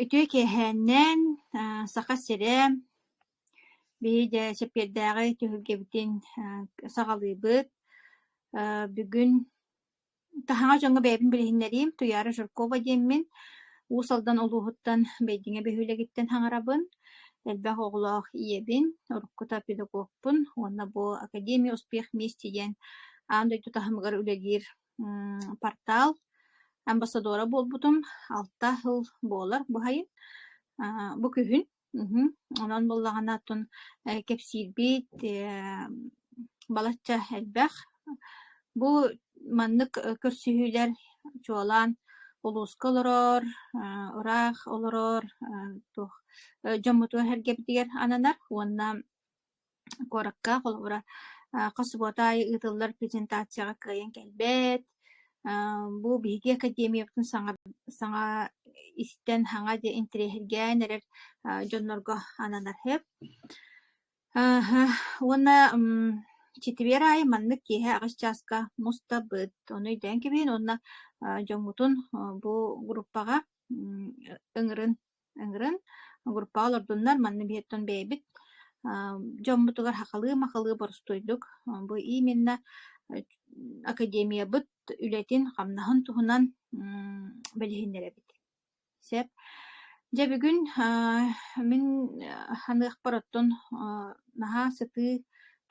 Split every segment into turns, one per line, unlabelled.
Үтүө киэһээннээн Саха сирэ биһи дьэ Чэппиэрдээҕи түһүлгэбитин саҕалыыбыт. бүгүн таһаҕас дьоҥҥо бэйэбин билиһиннэриим Туйаара Жиркова диэммин. Уус Алдан улууһуттан Бэйдиҥэ биһилэгиттэн хаҥарабын. Элбэх оҕолоох ийэбин, уруккута педагогпун уонна бу Академия успех мести диэн аан дойду таһымыгар үлэлиир портал амбассадора буолбутум алта сыл буолар баһайы бу күһүн онон буоллаҕына оттон кэпсиирбит балачча элбэх бу маннык көрсүһүүлэр чуолаан улууска олорор ыраах олорор дьоммуту эһэргэбитигэр ананар уонна куоракка холобура хос субуота аайы ыытыллар презентацияҕа кыайан кэлбэт бу биһиги академиябытын саҥа саҥа истэн саҥа интэриэһиргээн эрэр дьоннорго ананар үһү уонна чэтибиэр аайы маннык киэһэ аҕыс чааска мустабыт ону өйдөөн кэбиһин уонна дьоҥҥутун бу группаҕа ыҥырын ыҥыран огурпаҕа олордуннар манна биһиттэн бэйэбит дьоммутугар хахалыы-махалыы боростуйдук бу именно академиябыт үлэтин хамнаһын туһунан билиһиннэрэбит сөп дьэ бүгүн мин ханыахпар оттон наһаа сытыы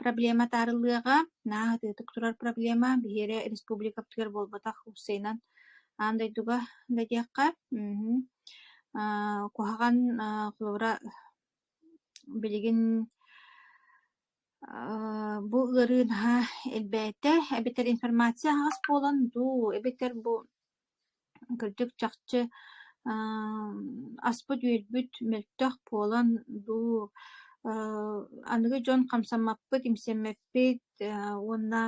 проблема таарыллыаҕа наһаа атыытык турар проблема биһиэрэ республикабытыгар буолбатах устайынан аан дойдуга да диэххэ Аа куһаҕан аа Флора билигин аа бу ыарыы наһаа элбээтэ эбэтэр информация аһаҕас буолан дуу эбэтэр бу кырдьык чахчы аа аспыт-үөлбүт мөлтөх буолан дуу аа аныгы дьон хамсаммаппыт, имсэммэппит аа уонна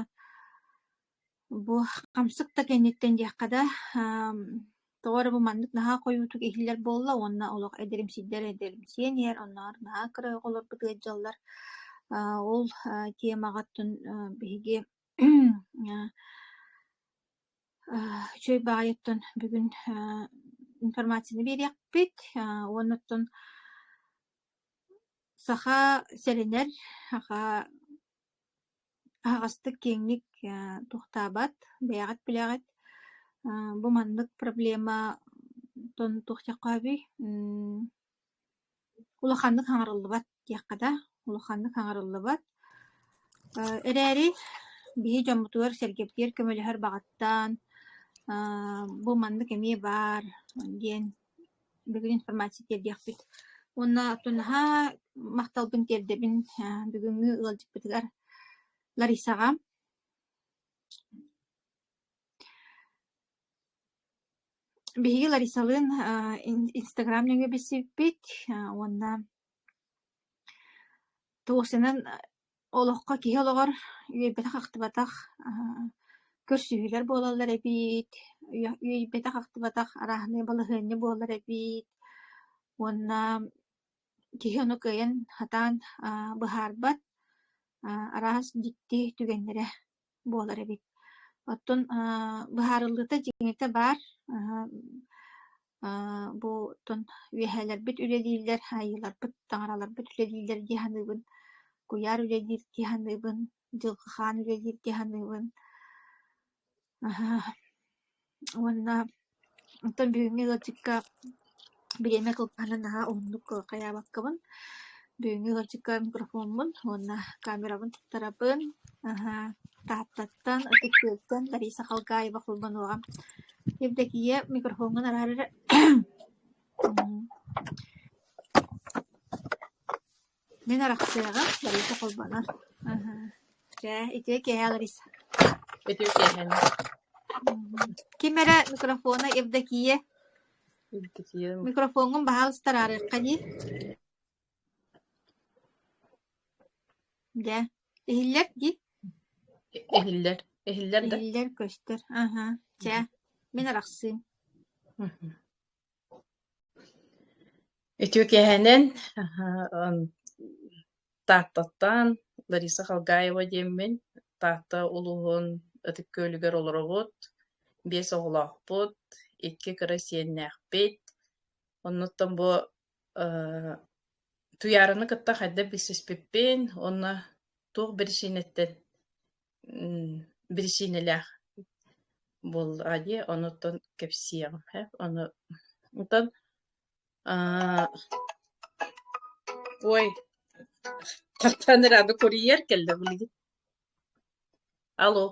Бу хамсык да кэнниттэн диэххэ да, тоҕо эрэ бу маннык наһаа хойуутук иһиллэр буолла уонна олох эдэрим сирдэр эдэримсийэн иһэр, оннооҕор наһаа кыра оҕолорбут ыалдьаллар. Аа ол аа темаҕыттан аа биһиги аа үчүгэй баҕайыттан бүгүн аа информацияны биэриэхпит аа уонна оттон саха сэрэнэр, саха Аһаҕастык киэҥник туохтаабат, бэйэҕит билэҕит. Бу маннык проблема тон туохтиахха сөбүй? Мм улаханнык хаҥарыллыбат диэххэ да, улаханнык хаҥарыллыбат. Эрээри биһи дьоммутугар-сэргэбитигэр көмөлөһөр баҕаттан бу маннык эмиэ баар диэн бүгүн информация тиэрдиэхпит уонна оттон наһаа махталбын тиэрдэбин бүгүҥҥү ыалдьыппытыгар Ларисаҕа биһиги Ларисалыын инстаграм нөҥүө билсибиппит уонна Тосянан олоххо киһи олоҕор үөйбэтэх-ахтыбатах көрсүһүүлэр буолаллар эбит, үөйбэтэх-ахтыбатах арааһынай балаһыанньа буолар эбит уонна киһи ону кыайан сатаан быһаарбат, араас дьикти түгэннэрэ. буолар эбит. Оттон аа быһаарыллыыта дьиҥитэ баар. Аһа аа бу оттон үөһээлэрбит үлэлииллэр, айыыларбыт, таҥараларбыт үлэлииллэр дии саныыбын. Куйаар үлэлиир дии саныыбын. Дьылҕахаан үлэлиир дии саныыбын. Аһа Уонна оттон бүгүҥҥү ыалдьыкка бириэмэ кылгаһынан наһаа уһуннук хайаабаккабын. Бүгүҥҥү ыалдьыкка микрофоммун уонна камерабын туттарабын. Аһаа, Тааттаттан, ытыктыыртан Лариса Халгаева холбонуоҕа. Евдокия, микрофоҥҥун араары эрэ Мин арахсыаҕым, барыта холбонор. Чэ, ити киэһээлэрис. Ити киэһэни. Ким эрэ микрофона Евдокия. Евдокия. Микрофоҥҥун баһаалыста араарыахха дии. Дьэ, иһиллэр дии. Иһиллэр. Иһиллэр да. Иһиллэр көстөр. Аха. Чэ, мин арахсыым. Үтүө киэһэнэн Тааттаттан Лариса Халгаева диэммин. Таатта улууһун Ытык Күөлүгэр олоробут. Биэс оҕолоохпут, икки кыра сиэннээхпит. Оннуттан бу э Туйаарыны кытта хайдах билсиспиппин уонна туох биричиинэттэн биричиинэлээх буоллаҕа дии, онуттан кэпсиэҕим һэ. Ону онтон аа ой, хаттаан эрэ аны курьер кэллэ билигин. Алло.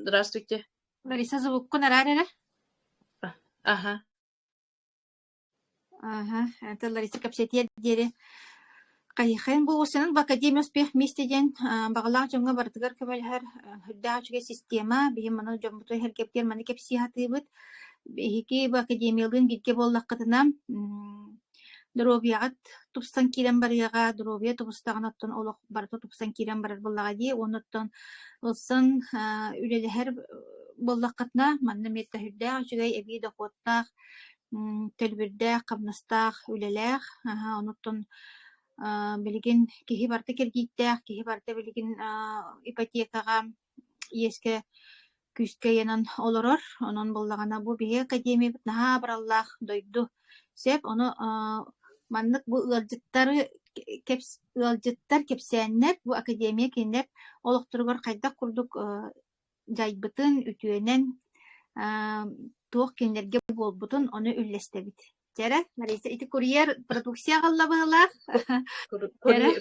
Здравствуйте. Лариса звуккун араар эрэ. Аха. Ааһа, это Лариса кэпсэтиэр диэри хайыхайын булгуччанан в Академия успех вместе диэн аа, баҕалаах дьоҥҥо барытыгар көмөлөһөр э, үрдээх үчүгэй система. Биһиги манна дьоммуту эһэргэбитигэр маны кэпсии сатыыбыт. Биһиги бу академиялыын бииргэ буоллаххытына, м, доруобуйаҕыт тупсан киирэн барыаҕа, доруобуйа тубустаҕына оттон олох барыта тупсан киирэн барар буоллаҕа дии. Уонна оттон ылсан аа, үлэлэһэр э, буоллаххытына, манна эмиэ да үрдээх үчүгэй эбии дохуоттаах Төлбүрдээх, хамнастаах үлэлээх, онуттан билигин киһи барыта кирдииттээх, киһи барыта билигин ипотекаҕа, иэскэ, күүскэ ыйанан олорор. Онон буоллаҕына бу биһиги академиябыт наһаа абыраллаах дойду сөп. Ону маннык бу ыалдьыттары ыалдьыттар, кэпсээннэр бу академия кинилэр олохторугар хайдах курдук дьайбытын, үтүөнэн туох кинилэргэ буолбутун ону үллэстэбит. Дьэрэ, Лариса, ити курьер продукция аҕалла быһылаах.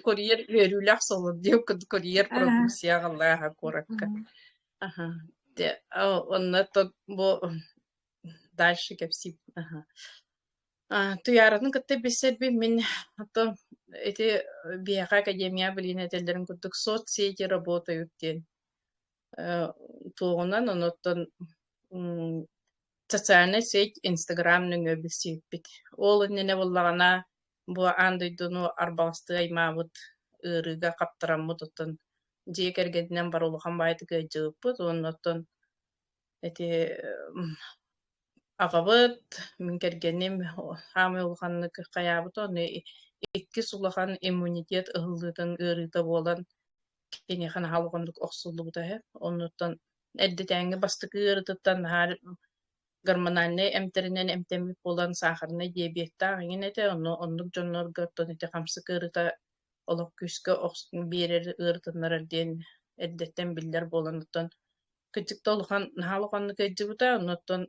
Курьер үөрүүлээх солод диэн курьер продукция аҕаллааха куоракка. Аха. Онно бу дальше кэпсиит. Аха. Туйааратын кытта билсэрбин мин ото ити биэхэ академия билин этэллэрин курдук соцсети работают диэн Туоҕунан онуттан социальнай сеть Инстаграм нөҥүө билсиэппит. Ол иннинэ буоллаҕына бу аан дойдуну арбаластыы аймаабыт ыарыыга хаптараммыт, оттон дьиэ кэргэнинэн бары улахан баайытык ыалдьыбыппыт уонна оттон эти аҕабыт, мин кэргэним хаамай улаханнык хайаабыт онно иккис улахан иммунитет ыһыллыытын ыарыыта буолан киниэхэ наһаа улаханнык охсуллубута үһү. Оннуттан эрдэтээҥҥи бастакы ыарытыттан наһаа гормональнай эмтэринэн эмтэммит буолан саахарынай диабеттаах эҥин этэ онно оннук дьоннорго оттон ити хамсык ыарыыта олох күүскэ охс биэрэр ыарытыннарар диэн эрдэттэн биллэр буолан оттон кыдьыкта улахан наһаа улаханнык өйдүбүтэ оннуттан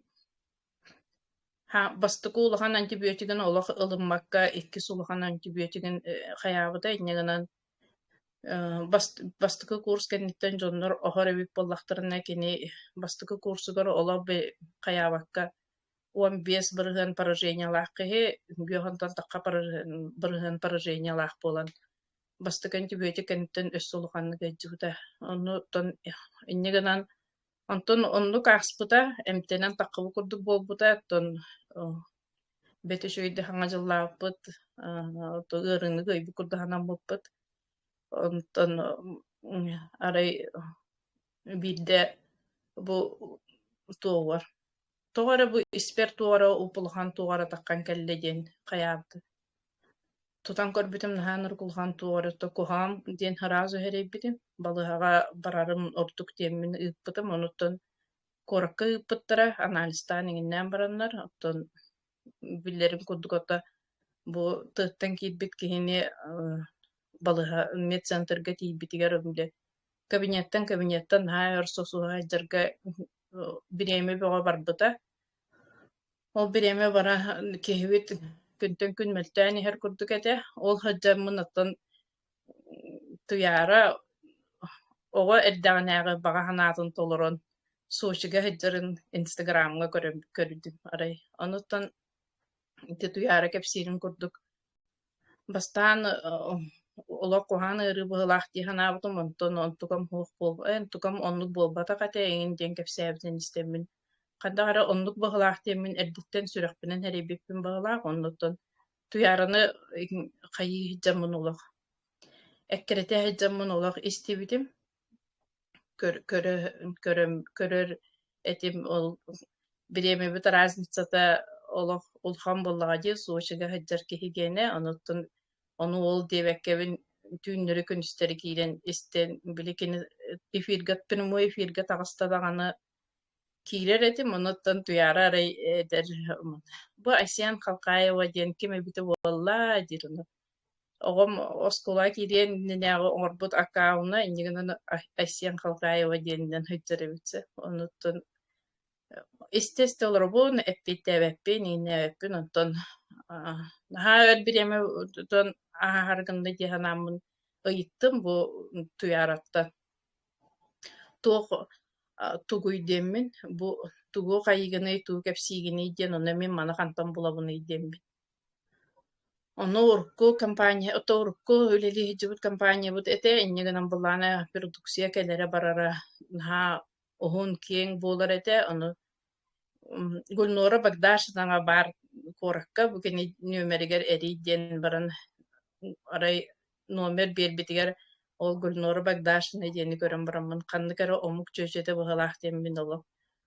бастакы улахан антибиотигын олох ылыммакка иккис улахан антибиотигын хайаабыта инньэ гынан бастакы курс кэнниттэн дьоннор оһор эбит буоллахтарына кини бастакы курсугар олох хайаабакка он бес бырыһыан поражениялаах киһи үҥгүө хонтон тахха бырыһыан поражениялаах буолан бастакы антибиотик кэнниттэн өссө улаханнык эйдьиһита. Онну оттон инньэ гынан онтон оннук ааспыта, эмтэнэн таххабы курдук буолбута, оттон бэт үч өйдө хаҥа дьыллаабыппыт, оттон ыарыыныгы өйбү курдук ханаммыппыт. Онтон арай биирдэ бу туоҕар тоҕо эрэ бу испэр туора улпулахан туоҕара таххан кэллэ диэн хайаабыты Тутан көрбүтүм наһаа нургулҕан туора то куһаҕан диэн сразу сэрэйбитим. Балыыһаҕа барарым ордук диэммин ыыппытым. Онуттан куоракка ыыппыттара, анализтаан иҥиннээн бараннар, оттон биллэрим курдук отто бу тыаттан киирбит киһини э, балыһа медцентрга тиийбитигэр били кабинеттан кабинеттан наһаа өр сосуһа сылдьарга э, бириэмэ бөҕө барбыта. Ол бириэмэ бара киһибит күнтэн күн мөлтөөн иһэр курдук этэ. Ол сылдьаммын оттон Туйаара оҕо эрдэҕинээҕи баҕа санаатын толорон Сочига сылдьарын Инстаграмҥа көрөн көрдүм арай. Онуттан ити Туйаара кэпсиирин курдук Бастаан олох куһаҕан ыарыы быһыылаах дии санаабытым, онтон онтукам суох буолбут, эн онтукам оннук буолбатах этэ эҥин диэн кэпсээбитин истэммин, ханнык эрэ оннук быһыылаах диэммин эрдэттэн сүрэхпинэн эрэйбиппин быһыылаах, оннуттан Туйаараны хайыы сылдьаммын олох, эккирэтэ сылдьаммын олох истибитим. көрөр этим ол бириэмэбит разницата олох улахан буоллаҕа дии сочига сылдьар киһигиэнэ онуттан ону ол диэбэккэбин түүннэри күнүстэри киирэн истэн били кини эфирга прямой эфиргэ таҕыста даҕаны киирэр этим онуттан туйаара арай эдэр бу айсен халкаева диэн ким эбитэ буолла диир Оҕом оскуола киириэн иннинээҕи оҥорбут аккаунна инньэ гынан Айсен Халкаева диэнинэн сылдьар эбит онуттан истэ-истэ олоробун, эппиэттээбэппин, иҥнээбэппин, онтон наһаа өр бириэмэ тутан ааһар гынна дии санааммын ыйыттым бу Туйаараттан. Туох тугуй диэммин, бу тугу хайыгыный, тугу кэпсиигиний диэн, онно мин маны хантан булабыный диэммин Онно урукку компания, ото урукку үлэлиһидьибит компаниябыт этэ инньэ гынан былаан э продукция кэлэрэ-барара наһаа уһун-киэҥ буолар этэ. Ону м Гульнора Богдашевнаҕа баар куоракка бу кини нүөмэригэр эрий диэн баран м арай номер биэрбитигэр ол Гульнора Богдашевна диэни көрөн бараммын ханнык эрэ омук чүөчэтэ быһыылаах диэн мин олох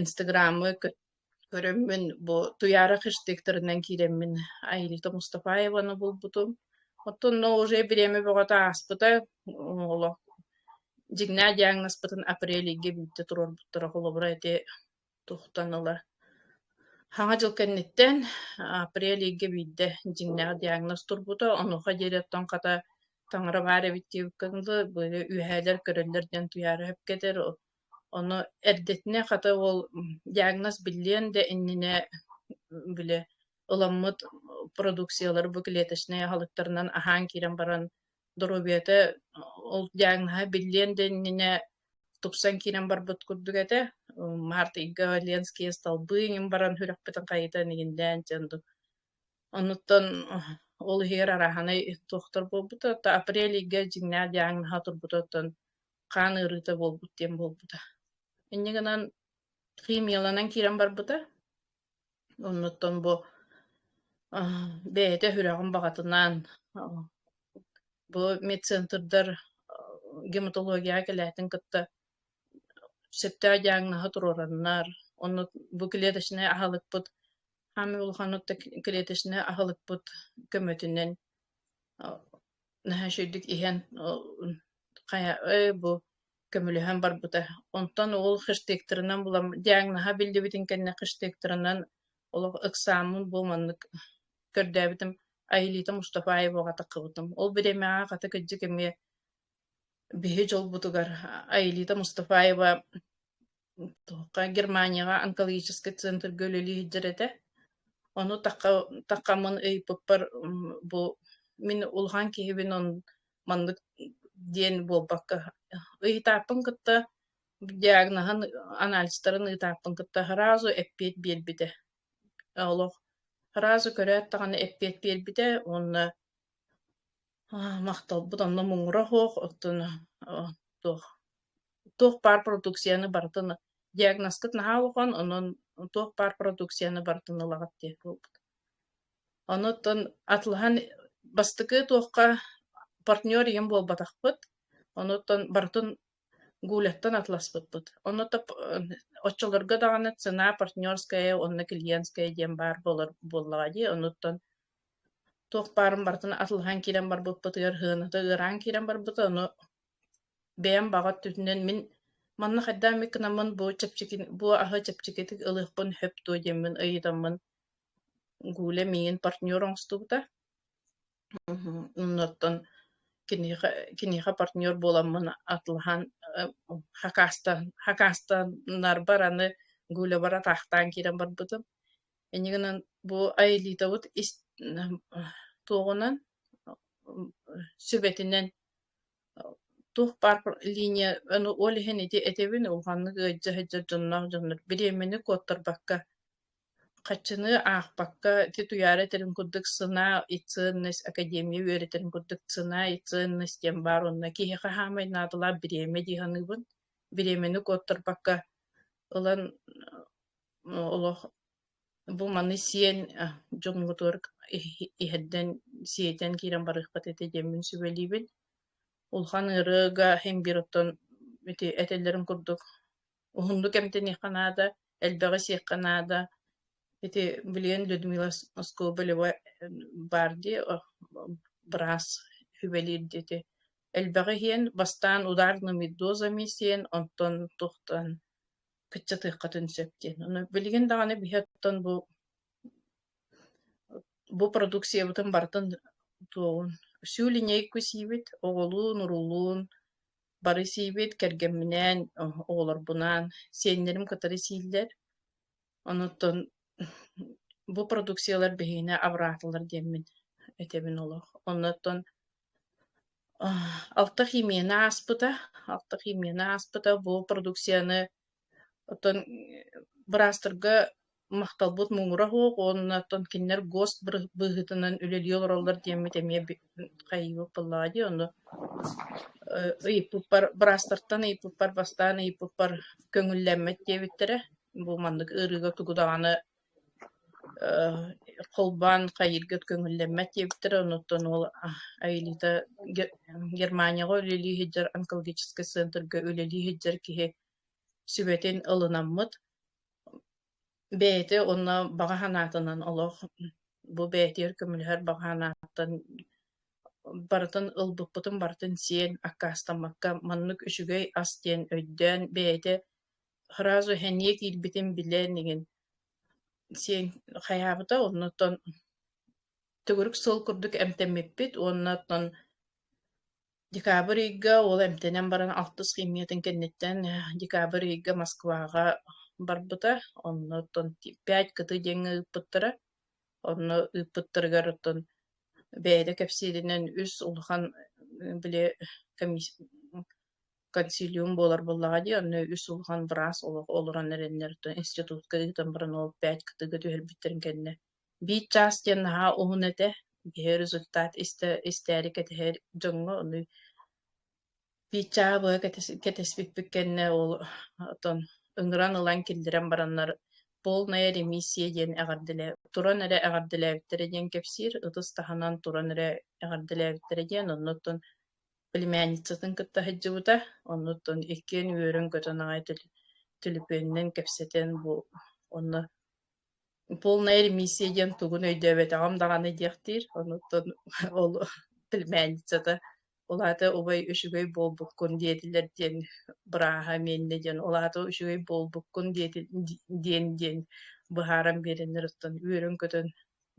Инстаграммы көрөммүн бу Туяра хэштегтарынан киирэммин Айрита Мустафаеваны булбутум. Оттонно уже бириэмэ бөҕөтө ааспыта олох дьиҥнээх диагнозпытын апрель ыйга бүттэ туруорбуттара холобура ити тухтан ыла Хаҥа дьыл кэнниттэн апрель ыйга биирдэ дьиҥнээх диагноз турбута, онуоха диэри оттон хата таҥара баар эбит диэбиккин дылы, быйыл үөһээлэр көрөллөр диэн Туяра өһүп кетэр, Ону эрдэтинэ хата ол диагноз биллиэн да иннинэ били ыламмыт продукциялар бу клеточнай аһылыктарынан аһаан киирэн баран доруобуйата ол диагноһа биллиэн да иннинэ тупсан киирэн барбыт курдук этэ. Март ыйга Ленские столбы иҥин баран сүрэхпитин хайытан игиндээн дьон ду Онуттан ол иһигэр араһанай туохтар буолбута апрель ыйга дьиҥнээх диагноһа турбута оттон хаан ыарыыта буолбут диэн буолбута. Инньэ гынан химияланан киирэн барбыта. Оннуттан бу бэйэтэ үһүрэҕин баҕатынан бу медцентрдар гематологияҕа кэлээтин кытта сөптөөх диагноһа туруораннар, онно бу клеточнай аһылыкпыт хаамай улаханнык клеточнай аһылыкпыт көмөтүнэн наһаа үчүгэйдик иһэн хайа ой бу көмөлөһөн барбыта. Онтон ол хэштегтарынан булам диагноһа биллибитин кэннэ хэштегтарынан олох ыксааммын бу маннык көрдөөбүтүм Айылита Мустафаеваҕа таххыбытым. Ол бириэмэҕэ хата кырдьык эмиэ биһи дьолбутугар Айылита Мустафаева Туохха Германияҕа онкологический центрга үлэлии сылдьар этэ. Ону тахха таххаммын ыйыппыппар бу мин улахан киһибин он маннык диэн буолбакка ыйытааппын кытта диагноһын анализтарын ыытааппын кытта сразу эппиэт биэрбитэ. Олох сразу көрөөт даҕаны эппиэт биэрбитэ уонна Аа, махталбыт онно муҥура суох, оттон э, туох туох паар продукцияны барытын диагнозкыт наһаа улахан, онон туох паар продукцияны барытын ылаҕыт диэ буолбут. Онуттан атылаһан бастакы туохха партнер ийэм буолбатахпыт, онуттан барытын Гуляттан атласпыппыт. Онно оччолорго даҕаны цена партнерская, онно клиентская диэн баар буолар буоллаҕа дии, онуттан туох баарын барытын атылаһан киирэн барбыппытыгар сыаната ыараан киирэн барбыта ону бэйэм баҕа өттүтүнэн мин манна хайдаан эмит гынаммын бу чэпчэки бу аһы чэпчэкитик ылыахпын сөп дуо диэммин ыйытаммын гуля миигин партнер оҥостубута мхм оннуттан киниэхэ киниэхэ партнер буоламмын атылаһан э, хакаастан хакаастаннарбар аны гулябар атаахтаан киирэн барбытым Ини гынан бу айылиитабыт ис туоҕунан, сүбэтинэн туох баар линия ону ол иһин ити этэбин улаханнык ыалдьа сылдьар дьонноох дьоннор бириэмэни куоттарбакка хаччыныы аахпакка ити Туйаара этэрин курдук сына и ценность академия үөрэтэрин курдук сына и ценность диэн баар уонна киһи хаһаамай наадалаах бириэмэ дии саныыбын бириэмэни куоттарбакка ылан олох бу маны сиэн дьоҥҥутугар иһэрдэн сиэтэн киирэн барыахпат этэ диэммин сүбэлиибин. Улахан ырыага имбир оттон ити этэллэрин курдук уһуннук эмтэниэххэ наада, элбэҕи сиэххэ наада. Ити билигин Людмила Скобелева баар дии быраас сүбэлиир дии ити. Элбэҕи иһиэн, бастаан ударными дозами сиэн, онтон тухтан кыччатыаххытын сөп диэн. Ону билигин даҕаны биһи оттон бу бу продукциябытын барытын туоҕун всю линейку сиибит, оҕолуун, уруулуун бары сиибит, кэргэмминээн, оҕолорбунаан, сиэннэрим кытары сииллэр. Онуттан бу продукциялар биһиэнэ абыраатылар диэммин этэбин олох. Оннуттан Алта химияны ааспыта. Алта химияны ааспыта бу продукцияны оттон быраастарга махталбыт муҥура суох уонна оттон кинилэр гос быры- быһыытынан үлэлии олороллор диэммит эмиэ би- хайыыбыт буоллаҕа дии ону э, ыйыппыппар быраастартан ыйыппыппар бастаан ыйыппыппар көҥүллэммэт диэбиттэрэ. Бу маннык ыарыыга тугу даҕаны Холбоон хайыырга көҥүллэммэт диэбиттэр, онуттан уол Аэлита Германияҕа үлэлии сылдьар, онкологическай центргэ үлэлии сылдьар киһи сүбэтин ылынаммыт. Бэйэтэ уонна баҕа санаатынан олох бу бэйэтигэр көмөлөһөр баҕа санааттан барытын ылбыппытын барытын сиэн, аккаастаммакка маннык үчүгэй ас диэн өйдөөн бэйэтэ Сразу эмиэ киирбитин билэн игин сиэн хайаабыта оннуттан төгүрүк суол курдук эмтэммиппит уонна оттон декабрь ыйга уол эмтэнэн баран алтыс химиятын кэнниттэн э, декабрь ыйга Москваҕа барбыта онно оттон пять кыты диэҥҥэ ыыппыттара онно ыыппыттарыгар оттон бэйэтэ кэпсииринэн үс улахан э, били комисс консилиум буолар буоллаҕа дии, онно үс улахан быраас олох олорон эрэннэр институтка ыытан баран ол пять кытыыга түһэрбиттэрин кэннэ биир чаас диэн наһаа уһун этэ киһи результат истэ истээри кэтэһэр дьоҥҥо ону биир чааһа быһа кэтэспиппит кэннэ ол отон ыҥыран ылан киллэрэн бараннар полная ремиссия диэн эҕэрдэлэ туран эрэ эҕэрдэлээбиттэрэ диэн кэпсиир ытыс таһынан туран эрэ эҕэрдэлээбиттэрэ диэн оннуттан племянницатын кытта сылдьыбыта, оннуттан иккиэн үөрэн көтөн аҕай төлөпүөнүнэн кэпсэтэн бу онно полная ремиссия диэн тугун өйдөөбөтөҕүм даҕаны диэхтиир. Онуттан ол племянницата улаата убай үчүгэй буолбуккун диэтилэр диэн бырааһа миэннэ диэн улаата үчүгэй буолбуккун диэтин диэн диэн быһааран биэрэннэр оттон үөрэн көтөн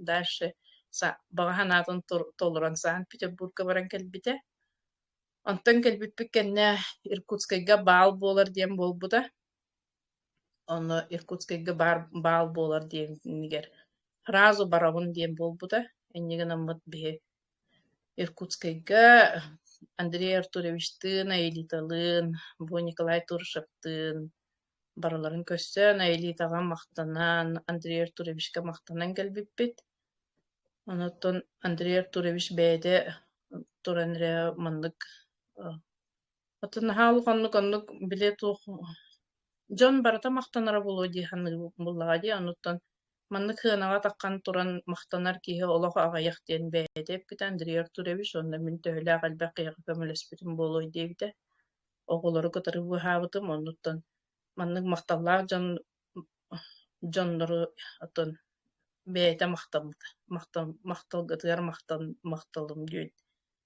дальше баҕа санаатын толорон Санкт-Петербурга баран кэлбитэ. Онтон кэлбиппит кэннэ Иркутскайга баал буолар диэн буолбута. Онно Иркутскайга баар баал буолар диэнигэр фразу барабын диэн буолбута. Инньэ гынаммыт биһи Иркутскайга Андрей Артуровичтыын, Аэлиталыын, бу Николай Туршевтыын барыларын көрсөн Аэлитаҕа махтанан, Андрей Артуровичка махтанан кэлбиппит. Онуттан Андрей Артурович бэйэтэ туран эрэ маннык отон наһаа улаханнык оннук билэ туох дьон барыта махтанара буолуо дии саныыбыт буоллаҕа дии онуттан маннык сыанаҕа таххан туран махтанар киһи олох аҕыйах диэн бэйэтэ эппитэ Андрей Артурович уонна мин төһөлөөх элбэх киһиэхэ көмөлөспүтүм буолуой диэбитэ оҕолору кытары быыһаабытым, оннуттан маннык махталлаах дьон дьоннору оттон бэйэтэ махтаммыта, махтал махталгытыгар махтал махталым диэн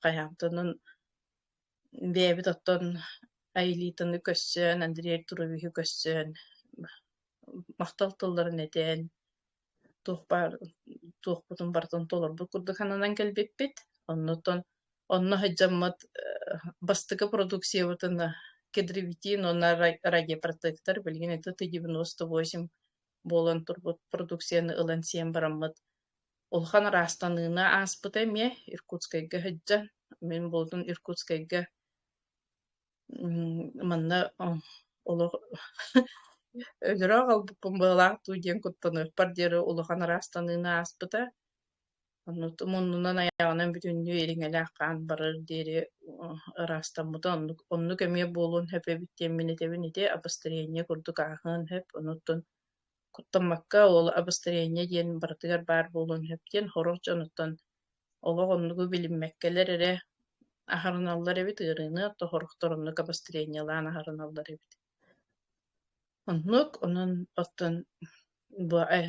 хайаамтынын бэйэбит оттон Айылитаны көрсөн, Андрей Артуровиһы көрсөн махтал тылларын этэн туох баар туохпутун барытын толорбут курдук сананан кэлбиппит. Оннуттан онно сылдьаммыт бастакы продукциябытын кедровитин уонна рагипротектор билигин ити ты девяносто восемь буолан турбут продукцияны ылан сиэн бараммыт улахан ыраастаныыны ааспыта эмиэ Иркутскайга сылдьан мин буолутун Иркутскайга Манна олох өлөрө аҕалбыппын быалаах дуу диэн куттаныахпар диэри улахан араастаныыны ааспыта. Оннутум оннунан аяҕынан бүтүннүү ириҥэлээх хаан барар диэри ыраастаммытым. Оннук оннук эмиэ буолуон сөп эбит диэн мин этэбин ити обострение курдук ааһыан сөп. Онуттан куттаммакка ол обострение диэн барытыгар баар буолуон сөп диэн хорор дьонуттан олох оннугу билиммэккэлэр эрэ аһарыналлар эбит, ыарыыны тоһорохтор оннук обострениелаан аһарыналлар эбит. Оннук, онон оттон бу э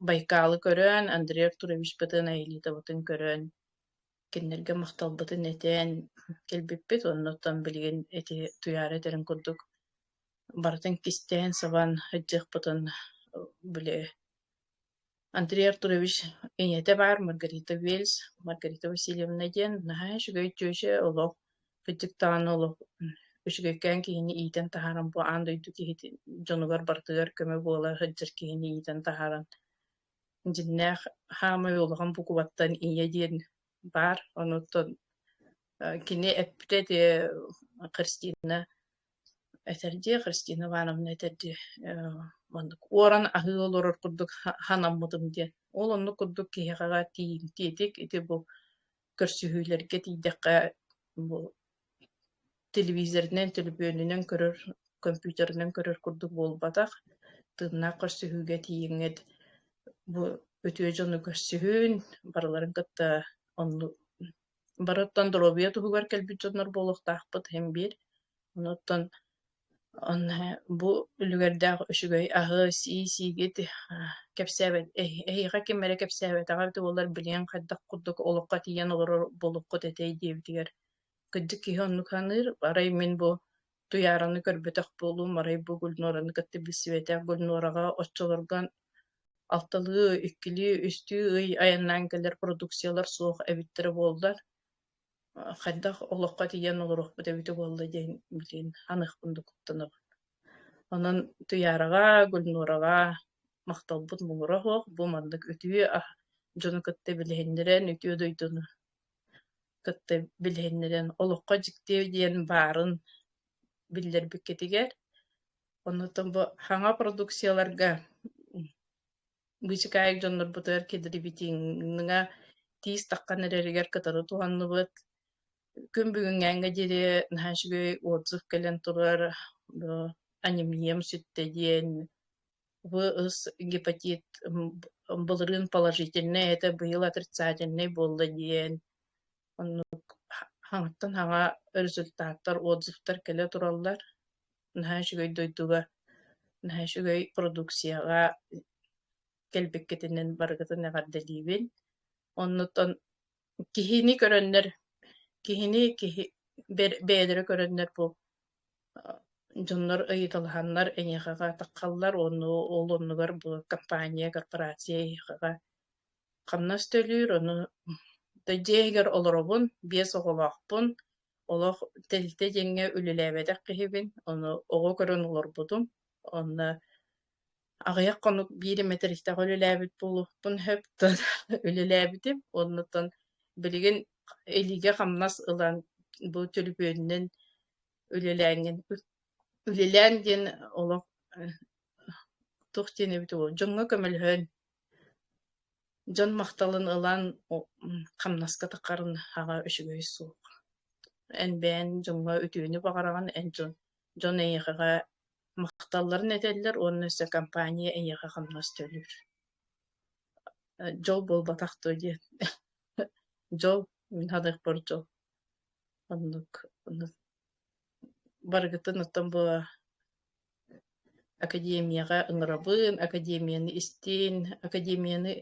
Байкалы көрөн, Андрей Артурович бытын Аэлитоватын көрөн, кинилэргэ махталбытын этэн кэлбиппит, оннуттан билигин эти туйаара этэрин курдук барытын кистээн сабан, ыддьыахпытын били Андрей Артурович ийэтэ баар Маргарита Вельс, Маргарита Васильевна диэн наһаа үчүгэй дьүөдьэ олох кырдьык даҕаны олох үчүгэйкээн киһини иитэн таһааран бу аан дойду киһитин дьонугар барытыгар көмө буола сылдьар киһини иитэн таһааран дьиннээх хаамай улахан букубаттан ийэ диэн баар онуттан кини эппитэ ити Христина этэрдии Христина Ивановна этэрдии оннук уоран аһыы олорор курдук ханаммытым диэн ол оннук курдук киһиэхэ тиийим тиэтик ити бу көрсүһүүлэргэ тиийдэххэ бу телевизорынан төлөпүөнүнэн көрөр компьютерынан көрөр курдук буолбатах тыыннаах көрсүһүүгэ тиийиҥҥит бу үтүө дьону көрсүһүн барыларын кытта онну Барыттан доруобуйа туһугар кэлбит дьоннор буолуохтаахпыт иһин биир. Онуттан онно бу үлүгэрдээх үчүгэй аһы, сии-сиигит кэпсээбэт эһиэхэ ким эрэ кэпсээбэтэҕэ эбитэ буоллар билиэҥ хайдах курдук олоххо тиийэн олорор буолуккут этэй диэбитигэр кырдьык киһи оннук саныыр. Арай мин бу Туйаараны көрбөтөх буолуум, арай бу Гульнораны кытта билсибэтэх. Гульнораҕа оччолорго алталыы, иккилии, үстүү ый айаннаан кэлэр продукциялар суох эбиттэрэ буоллар, а, хайдах олоххо тиийэн олоруохпут эбитэ буолла диэн билигин аныах курдук куттанабын. Онон Туйаараҕа, Гульнораҕа махталбыт муҥура суох. Бу маннык үтүө а дьону кытта билиһиннэрэн, үтүө дойдуну кытта билиһиннэрэн олоххо дьиктиэ диэн баарын биллэрбиккитигэр оннуттан бу саҥа продукцияларга быычыкаайык дьоннорбутугар кидрибитиҥҥа тиис таххан эрэригэр кытары туһанныбыт күн бүгүҥҥээҥҥэ диэри наһаа үчүгэй отзыв кэлэн турар бу анимнием сүттэ диэн В ыс гепатит былырыын положительнай этэ быйыл отрицательнай буолла диэн оннук хаҥаттан хаҥа результаттар отзывтар кэлэ тураллар наһаа үчүгэй дойдуга наһаа үчүгэй продукцияҕа кэлбиккитинэн барыгытын эҕэрдэлиибин оннуттан Киһини көрөннөр, киһини киһи бэ- бэйэлэрэ көрөннөр бу дьоннор ыйыталаһаннар эйиэхэҕэ атаххаллар уонна ол оннугар бу компания, корпорация эйиэхэҕэ хамнас төлүүр, ону да дьиэ иһигэр олоробун, биэс оҕолоохпун, олох тэрилтэ диэҥҥэ үлэлээбэтэх киһибин, ону оҕо көрөн олорбутум, онно Аҕыйах хонук биир мэтэристээх үлэлээбит буолуохпун сөп тон үлэлээбитим. Оннуттан билигин илиигэ-хамнас ылан бу төлөпүөнүнэн үлэлээҥҥин үлэлээн диэн олох туох диэн эбит уол дьоҥҥо көмөлөһөн дьон махталын ылан хамнаска таххарын аҕа үчүгэй суох эн бэйэҥ дьоҥҥо үтүөнү баҕараҕын эн дьон Дьон эйиэхэҕэ махталларын этэллэр уонна өссө компания эйиэхэ хамнас төлүүр. Э, дьол буолбатах дуо диэн. Дьол, мин ханыахпар дьол. Оннук. Барыгытын оттон бу академияҕа ыҥырабын, академияны истин, академияны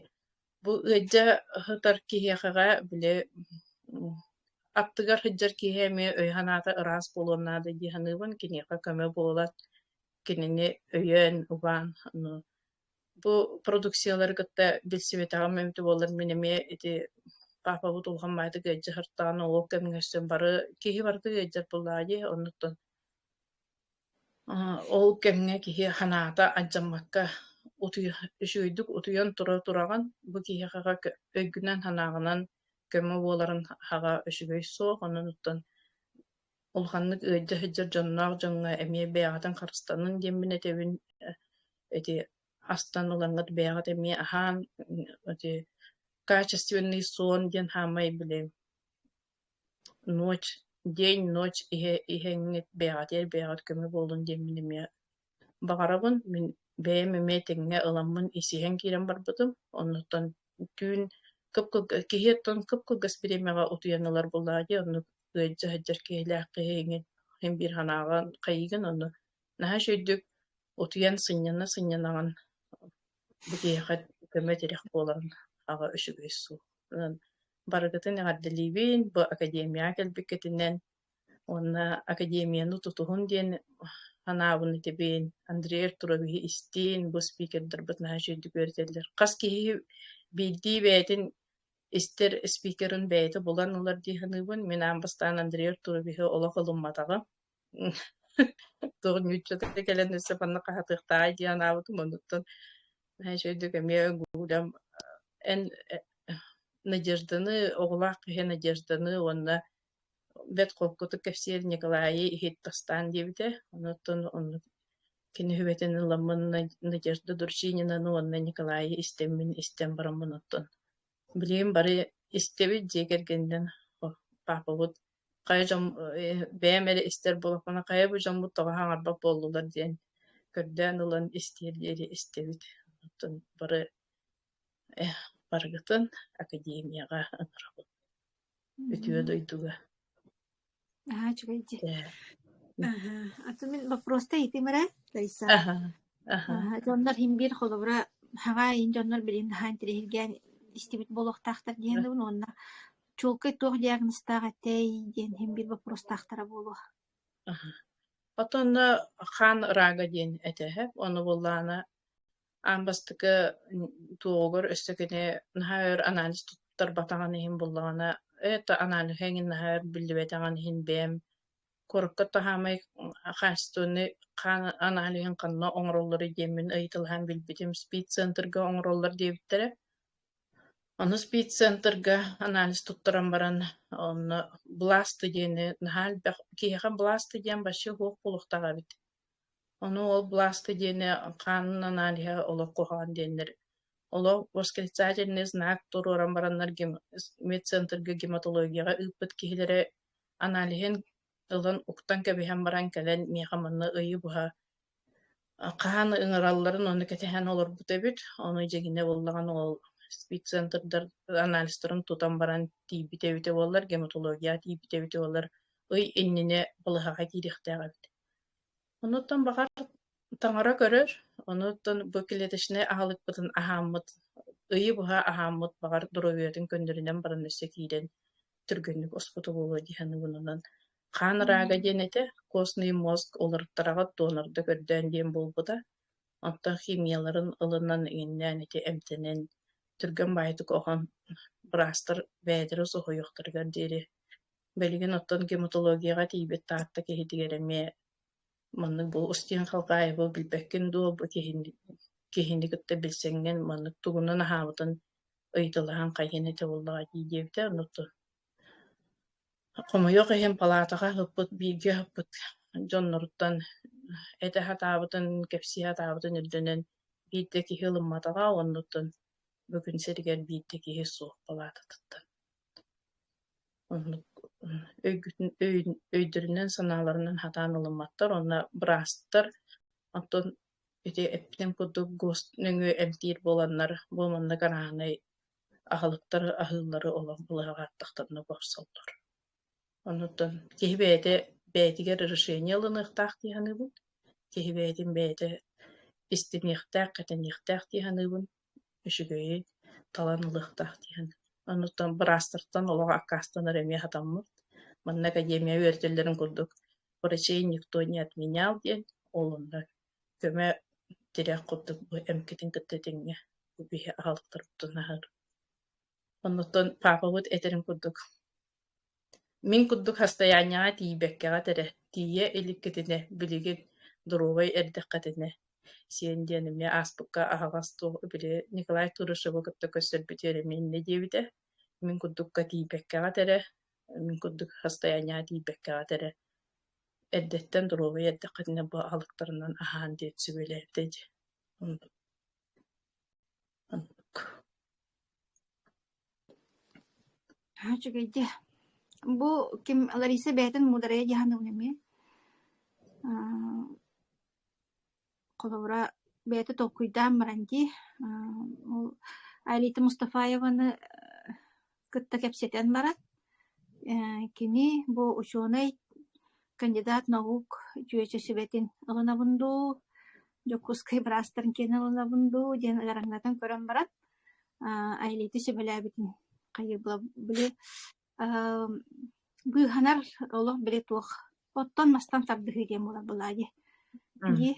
Бу ыалдьа ыһытар киһиэхэҕэ били аттыгар сылдьар киһи эмиэ өй-санаата ыраас буолуон наада дии саныыбын. Киниэхэ көмө буолат, кинини өйөөн, убаан. Ну, бу продукциялары кытта билсибэтэҕим эбитэ буоллар мин эмиэ ити паапабыт улахан баайдык ыалдьа сыртаҕын олох кэмҥэ өссө бары киһи барыта ыалдьар буоллаҕа дии, оннуттан Ол кэмҥэ киһи санаата алдьаммакка утуйа үчүгэйдик утуйан тура тураҕын, бу киһиэхэ өйгүнэн-санааҕынан көмө буоларын аһаҕа үчүгэй суох. Оннуттан улаханнык ыалдьа сылдьар дьонноох дьоҥҥо эмиэ бэйэҕитин харыстаныҥ диэммин этэбин. Эти астан ылаҥҥыт бэйэҕит эмиэ аһаан эти качественный сон диэн хаамай билэбин ночь день ночь иһэ иһэҥҥит бэйэҕитигэр бэйэҕит көмө буоллун диэн мин эмиэ баҕарабын мин бэйэм эмиэ тэҥҥэ ыламмын исиһэн киирэн барбытым оннуттан түүн кып-кылга киһи оттон кып-кылгас бириэмэҕэ утуйан ылар буоллаҕа дии оннук ыалдьа сылдьар киһилээх киһи иҥин иһин биир санааҕын хайыгын онно наһаа үчүгэйдик утуйан сынньана сынньанаҕын бу киһиэхэ көмө тирэх буоларын аҕа үчүгэй суол барыгытын эҕэрдэлиибин бу академияҕа кэлбиккитинэн уонна академияны тутуһун диэн санаабын этибин Андрей Артуровиһы истиин бу спикердарбыт наһаа үчүгэйдик үөрэтэллэр хас киһи биирдии бэйэтин истэр спикерын бэйэтэ булан ылар дии саныыбын мин аан бастаан Андрей Артуровиһы олох ылымматаҕым Туох ньууччата кэлэн өссө манна хаһатыахтааҕай диэн анаабытым онуттан Знаешь, өйдүк эмиэ гуглям эн э, Надежданы, оҕолоох киһи Надежданы уонна бэт холкутук кэпсиир Николайы иһиттастаан диэбитэ. Онуттан онно кини хүбэтин ылламмын Надежда Дурчининаны уонна Николайы истэммин истэн бараммын оттон билигин бары истэбит дьиэ кэргэнинэн папабыт Хайа дьон э, бэйэм эрэ истэр буолаппына, хайа бу дьоммут тоҕо хаҥарбат буоллулар диэн көрдөөн ылан истиэр диэри истэбит. Оттон бары Эх, барыгытын академияҕа онорабын. Үтүө Мгм. дойдуга. Аһа, үчүгэй дии. Э, Аһа, аты мин боппуруоста иитимэрэ, Раиса. аха, аха, Аһа, дьоннор химбиир холобура хаҕаа иин дьоннор билин хаһаан тириһиргээн истибит буолуохтаахтар диэн дабын уонна чуолкай туох диагнозтаах этэй диэн иһин биир боппуруостаахтара буолуо Отонно хаан ыраага диэн этеһэ ону буллаана аан бастакы туоҕугар өссө кини наһаа өр анализ туттарбатаҕын иһин буллаҕына это анализы эҥин наһаа өр биллибэтэҕин иһин бэйэм курукка таһаамай хаачественный хаан анализын ханна оҥороллоруй диэммин ыйыталаһан билбитим спид центрга оҥороллор диэбиттэрэ Ону спид-центрга анализ туттаран баран, онно бласты диэни наһаа элбэх киһиэхэ бласты диэн вообще суох буолуохтаах эбит. Ону ол бласты диэни хаанын аналиһа олох куһаҕан диэннэр. Олох восклицательный знак туруоран бараннар гем- медцентрга гематологияҕа ыыппыт киһилэрэ аналиһын ылан уктан кэбиһэн баран кэлэн миэхэ манна ыйы быһа хаһан ыҥыралларын ону кэтэһэн олорбут эбит. Ону дьиҥинэ буллаҕын ол спид-центрдар анализтарын тутан баран тиийбит эбитэ буоллар, гематология тиийбит эбитэ буоллар, ый иннинэ балыһаҕа киириэхтээх эбит Онуттан баҕар таҥара көрөр, онуттан бу клеточнай аһылыкпытын аһааммыт, ыйы быһа аһааммыт, баҕар, доруобуйатын көннөрүнэн баран өссө киирэн түргэнник оспото буолуо дии саныыбынынан. Хаан рага диэн этэ, костный мозг уларыттараҕыт донорда көрдөөн диэн буолбута. Оттон химияларын ылынан, иҥиннээн ити эмтэнэн, түргэн баайтык оһон быраастар бээтэрэ соһуйуохтарыгар диэри Билигин оттон гематологияҕа тиийбит Таатта киһитигэр эмиэ маннык бу Устин Халкаеву билбэккин дуо, бу киһини киһини кытта билсэҥҥин маннык тугунан аһаабытын ыйыталаһан хайыан этэ буоллаҕа дии диэбитэ, онно хомойуох иһин палаатаҕа ыппыт бииргэ ыппыт дьонноруттан этэ сатаабытын, кэпсии сатаабытын ирдэнэн биирдэ киһи ылымматаҕа, оннуттан бүгүн сиригэр биирдэ киһи суох палаататыттан. Оннук өйгүтүн өйүн өйдөрүнэн-санааларынан хатаан ылымматтар уонна быраастар оттон ити эппитим курдук гос нөҥүө эмтиир буоланнар бу маннык арааһынай аһылыктар аһыыллары олох былаһаҕа аттахтанна бопсоллор. Оннуттан киһи бэйэтэ бэйэтигэр решение ылыныахтаах дии саныыбын, киһи бэйэтин бэйэтэ истиниэхтээх, кэтэниэхтээх дии саныыбын. үчүгэйи талан ылыахтаах диэн. Оннуттан быраастартан олох аккаастанар эмиэ хатаммыт. Манна академия үөрэтэллэрин курдук врачей никто не отменял диэн олуннар көмө тирэх курдук бу эмкитин кытта тэҥҥэ бу биһи аһалтарыттан аһар. Оннуттан паапабыт этэрин курдук Мин курдук хастайаанньаҕа тиийбэккэҕэ этэрэ, тиийэ иликкитинэ, билигин, доруобай эрдэххитинэ, сиэн диэн эмиэ ааспыкка аһаҕас суох били Николай Турышевы кытта көрсөрбүтүгэр эмиэ иннэ диэбитэ. Мин курдукка тиийбэккэҕэ этэрэ, мин курдук хастайаанньаҕа тиийбэккэҕэ этэрэ, эрдэттэн доруобай эрдэххитинэ бу алыптарынан аһаан диэн сүбэлээбитэ ити Аа, үчүгэйди. Бу ким Лариса бэйэтин муударайа дьаһаныбын эми. Аа, холобура бэйэтэ толкуйдаан баран дии. Аа, ол Айрита Мустафаеваны кытта кэпсэтэн баран, э, кини бу учуонай кандидат наук үтүөччү сүбэтин ылынабын дуу, Дьокуускай быраастарын киэн ылынабын дуу диэн ыараҥнатан көрөн баран, Айлити сөбүлээбитин хайыла били быыһанар олох били туох оттон мастан тардыһыы диэн буолар былаадьы дии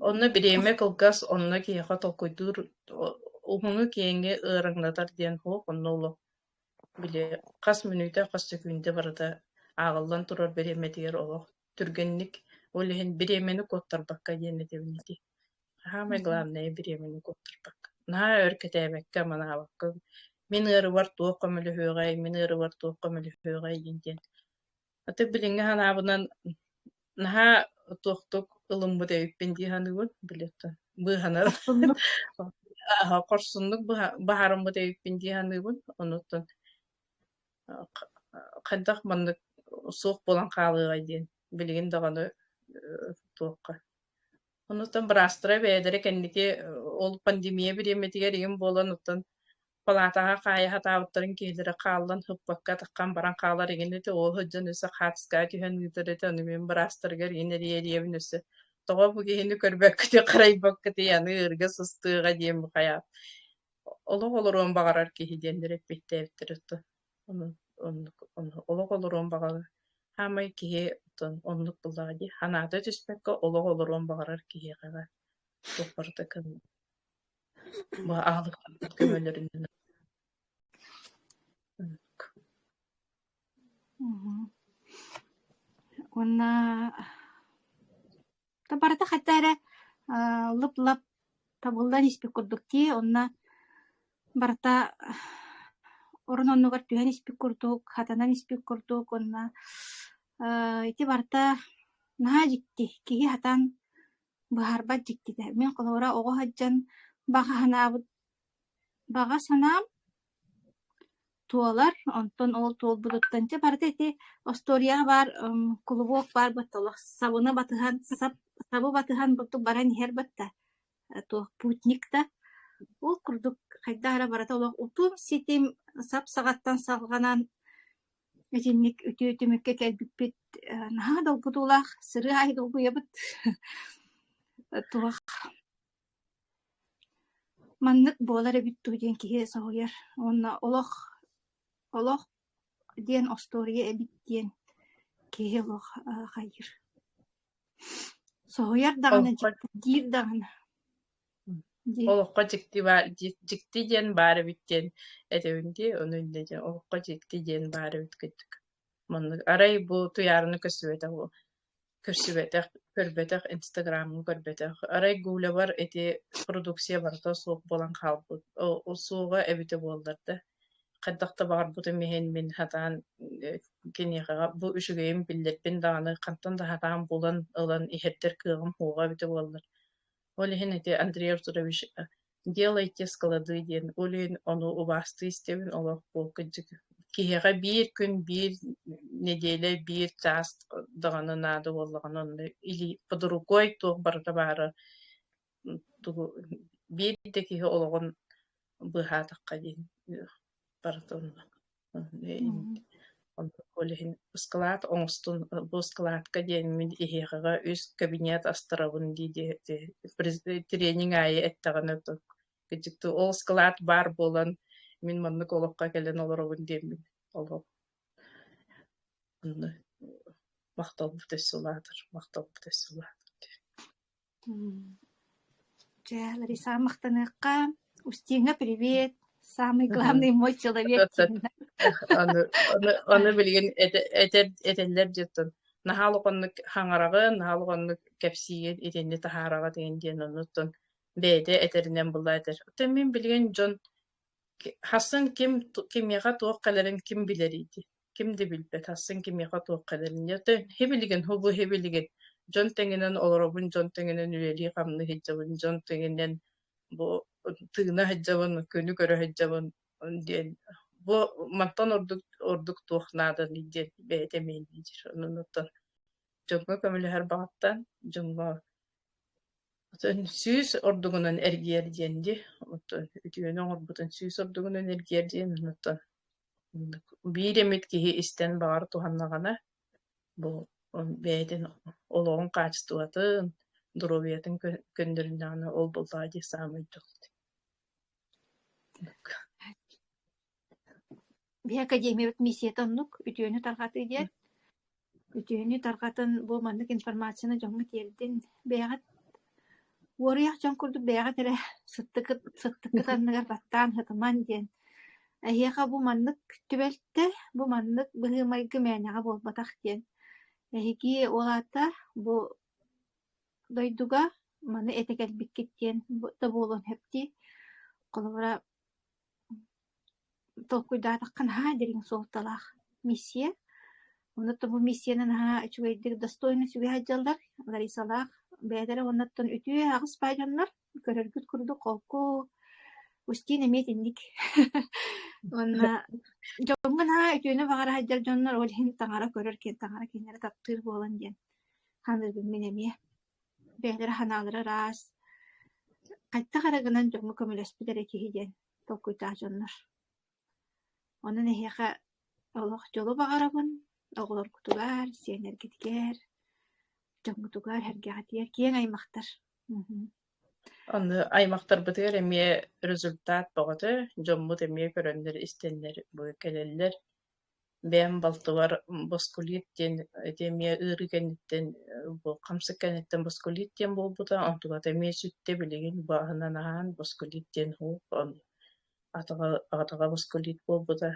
Онно бириэмэ кылгас, онно киһиэхэ толкуйдуур уһуну киэҥи ыараҥнатар диэн суох, онно олох били хас мүнүүтэ, хас сөкүүндэ барыта ааҕыллан турар бириэмэтигэр олох түргэнник, ол иһин бириэмэни куоттарбакка диэн этэбин ити. Хаамай главное бириэмэни куоттарбакка. Наһаа өр кэтээбэккэ, манаабакка, мин ыарыбар туох көмөлөһүөҕэй, мин ыарыбар туох көмөлөһүөҕэй диэн диэн Аты билиҥҥи санаабынан наһаа туохтук ылыммыт эбиппин дии саныыбын билеттан быыһанар хорсуннук аһа хорсуннук быһаарыммыт эбиппин дии саныыбын онуттан хайдах маннык суох буолан хаалыаҕай диэн билигин даҕаны туохха онуттан быраастара бэйэлэрэ кэнники ол пандемия бириэмэтигэр иҥин буолан оттон палаатаҕа хаайа сатаабыттарын киһилэрэ хааллан ыппакка атаххам баран хаалар игин ити оо сыдьан өссө хаатыскаҕа түһэн ыытар ити ону мин быраастарыгар иин эрийэ-эрийэбин өссө тоҕо бу киһини көрбөккүтүй харайбаккытый аны ыырга сыстыаҕа диэн бухайаап олох олоруон баҕарар киһи диэннэр эппиэттээбиттэр отто олох олоруон баҕарар хаамай киһи отон оннук буллаҕа дии санаата түспэккэ олох олоруон баҕарар киһиэхэ туох барыта кыҥ бу аһылык көмөлөрүнэн уонна та барыта хата эрэ лып-лап табыллан испит курдук дии онно барыта орун оннугар түһэн испит курдук хатанан испит курдук уонна ити барыта наһаа дьикти киһи хатан Быһаарбат дьиктитэ: мин холобура оҕо сылдьан баҕа санаабыт баҕа санаам туолар, онтон ол туолбутуттан дьэ барыта ити остуоруйаҕа баар м кулубуок баар батталлах сабыны батыһан сап сабы батыһан бурдук баран иһэр батта туох путник да ол курдук хайдах эрэ барыта олох утум-ситим сап саҕаттан салҕанан Итинник үтүө түмүккэ кэлбиппит наһаа долгутуулаах, сырыы аайы долгуйабыт. Туох маннык буолар эбит дуу диэн киһи соһуйар уонна олох олох диэн остуоруйа эбит диэн киһи олох хайыыр. Соһуйар даҕаны, дьиктиргиир даҕаны. олоххо дьикти баар дьикти диэн баар эбит диэн этэбин дии ону иннэ дьэ олоххо дьикти диэн баар эбит кыттык маннык арай бу туйаарыны көрсүбэтэх көрсүбэтэх көрбөтөх инстаграмҥа көрбөтөх арай гулябар ити продукция барыта суох буолан хаалбыт суоҕа эбитэ буоллар да хайдах да баҕарбытым иһин мин сатаан киниэхэҕэ бу үчүгэйин биллэрбин даҕаны хантан да сатаан булан ылан иһэрдэр кыаҕым суоҕа эбитэ буоллар Ол иһин ити Андрей Артурович э, «Делайте склады» диэн өлүөн ону убаастыы истэбин олох бу кырдьык киһиэхэ биир күн биир нэдиэлэ биир чаас даҕаны наада буоллаҕына онно или под рукой туох барыта баара тугу биир да киһи олоҕун быыһаатахха диэн э, барыта онно Коля иһин ыскылаат оҥостун, бу ыскылаатка диэн мин иһиэхэҕэ үс кабинет астарабын дии диэти тренинг аайы эттэҕинэ кыдьыктыы ол ыскылаат баар буолан мин маннык олоххо кэлэн олоробун диэммин олох махталбыт өссө улаатар махталбыт өссө улаатар Дьэ, Лариса, махтаныахха. Устиҥа, привет! Самый главный мой человек диэнэ. Аны аны аны билигин эт- этэр этэллэр дьиттэн наһаа улаханнык хаҥараҕын, наһаа улаханнык кэпсиин итинни таһаараҕыт иһин диэн оннуттан бэйэтэ этэринэн була этэр. Оттон мин билигин дьон ки- хассын ким ту- кимиэхэ туох кэлэрин ким билэрий дии. ким да билбэт, ахсын кимиэхэ туохха дэнэ. Ты хибилигин, хубу хибилигин. Дьон тэҥинэн олоробун, дьон тэҥинэн үлэлии-хамныы сылдьабын, дьон тэҥинэн бу тыына сылдьабын, күнү көрө сылдьабын диэн бу мантан ордук ордук туох нааданый диэн бэйэтэ мэйдиир. Онуттан дьоҥҥо көмөлөһөр баҕаттан дьоҥҥо сүүс ордугунан эргийэр диэн ди. Оттон үтүөнү оҥорбутун сүүс ордугунан эргийэр диэн оттон биир эмит киһи истэн баҕар туһаннаҕына бу бэйэтин олоҕун хаачыстыбатын, доруобуйатын көннөрүннэҕинэ ол буллаҕа дии саамай дьолт. Бия академиябыт миссият оннук үтүөнү тарҕатыы диэн Үтүөнү тарҕатын бу маннык информацияны дьоҥҥо тиэрдин. Бэйэҕит уоруйах дьон курдук бэйэҕит эрэ сыттыкыт сыттыккыт анныгар баттаан һытымаҥ диэн. Эһиэхэ бу маннык түбэлтэ, бу маннык быһыы-майгы мээнэҕэ буолбатах диэн. Эһиги ол аата бу дойдуга маны этэ кэлбиккит диэн да буолуон сөп дии. Холобура толкуйдаатахха наһаа дириҥ суолталаах миссия. Онно то бу миссияны наһаа үчүгэйдик, достойно сүгэһэр дьаллар Ларисалаах бэйэлэрэ уонна оттон үтүө аҕыс баай дьоннор көрөргүт курдук холку Устин эмиэ итинник уонна дьоҥҥо наһаа үтүөнү баҕара сылдьар дьоннор ол иһин таҥара көрөр киэн таҥара кинилэри таптыыр буолан диэн ханыыбын мин эмиэ бэйэлэрэ санаалара ыраас, хайдах эрэ гынан дьоҥҥо көмөлөспүт эрэ киһи диэн толкуйдаах дьоннор. Онон эһиэхэ олох дьолу баҕарабын, оҕолоргутугар, сиэннэргитигэр, дьоҥҥутугар, эргэҕитигэр киэҥ аймахтар. Аны аймахтарбытыгар эмиэ результат бөҕөтө, дьоммут эмиэ көрөннөр-истэннэр кэлэллэр бэйэм балтыбар боскулит диэн ити эмиэ ыарыы кэнниттэн бу хамсык кэнниттэн боскулит диэн буолбута онтуката эмиэ сүттэ билигин бааһынан аһаан боскулит диэн оһ атаҕа атаҕа боскулит буолбута